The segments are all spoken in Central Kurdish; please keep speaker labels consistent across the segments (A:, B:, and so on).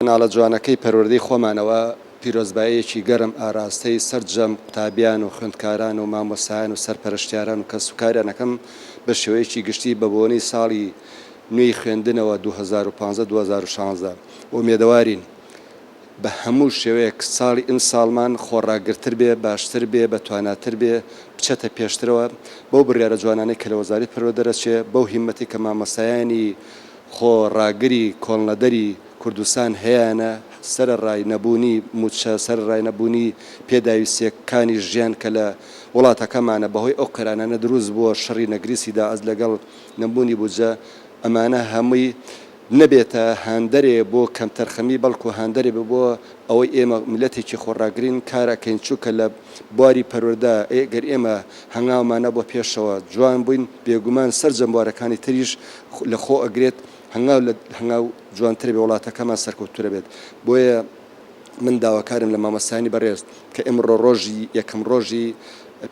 A: کەناڵە جوانەکەی پەروەردەی خۆمانەوە پیرۆزباییەکی گەرم ئاراستەی سەرجەم قوتابیان و خوێندکاران و مامۆستایان و سەرپەرشتیاران و کەسوکاریان ئەکەم بە شێوەیەکی گشتی بە بۆنەی ساڵی نوێی خوێندنەوە دوو هەزار و پازدە دوو هەزار و شازدە ئومێدەوارین بە هەموو شێوەیەک ساڵی ئمساڵمان خۆڕاگرتر بێ باشتر بێ بە تواناتر بێ بچێتە پێشترەوە بەو بڕیارە جوانانەی کە لە وەزاری پەروەدەرەچێ بەو هیمەتەی کە مامۆستایانی خۆ ڕاگری کۆڵنەدەری کوردستان هەیانە سەرەڕای نەبوونی مووچە، سەرەڕای نەبوونی پێداویستییە کانی ژیان کە لە وڵاتەکەمانە بەهۆی ئەو قەیرانانە دروست بووە، شەڕی نەگریسی داعس لەگەڵ نەبوونی بودجە، ئەمانە هەمووی نەبێتە هاندەرێ بۆ کەمتەرخەمی بەڵکوو هاندەرێ بێ بۆ ئەوەی ئێمە مللەتێکی خۆ ڕاگرین کار ئەکەین چوونکە لە بواری پەروەردە ئەگەر ئێمە هەنگاومان نەبووە پێشەوە جوان بووین بێگومان سەرجەم بوارەکانی تریش لە خۆ ئەگرێت هەنگاو لە هەنگاو جوانتر بێ وڵاتەکەمان سەرکەوتوترە بێت بۆیە من داواکارم لە مامۆستایانی بەڕێز کە ئمڕۆ ڕۆژی یەکەم ڕۆژی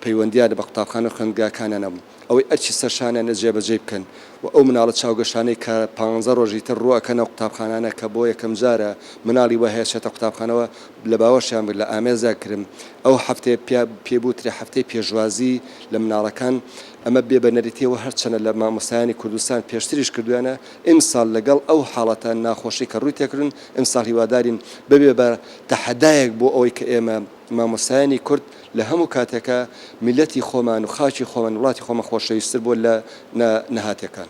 A: پەیوەندیانە بە قوتابخانە خوێندگاکانیانەم ئەوەی ئەرچی سەرشانیانە جێبەجێی بکەن و ئەو مناڵە چاوگەشانەی کە پانزە ڕۆژی تر ڕووەکەنە قوتابخانانە کە بۆ یەکەم جارە مناڵی وە هەیە چێتە قوتابخانەوە لە باوەشیان بگرن لە ئامێزدا گرم ئەو هەفتەیە پێ بوترێ هەفتەی پێشوازی لە مناڵەکان ئەمە بێ بە نەریتیە وە هەرچەنە لە مامۆستایانی کوردستان پێشتریش کردویانە ئیمسال لەگەڵ ئەو حاڵەتە ناخۆشەی کە ڕووی تێکردن ئیمسال هیوادارین ببێ بە تەحەدایەک بۆ ئەوەی کە ئێمە مامۆستایانی کورد لە هەموو کاتێکا میلەتی خۆمان و خاکی خۆمان وڵاتی خۆمان خۆشەویستر بۆ لە نە نەهاتێکان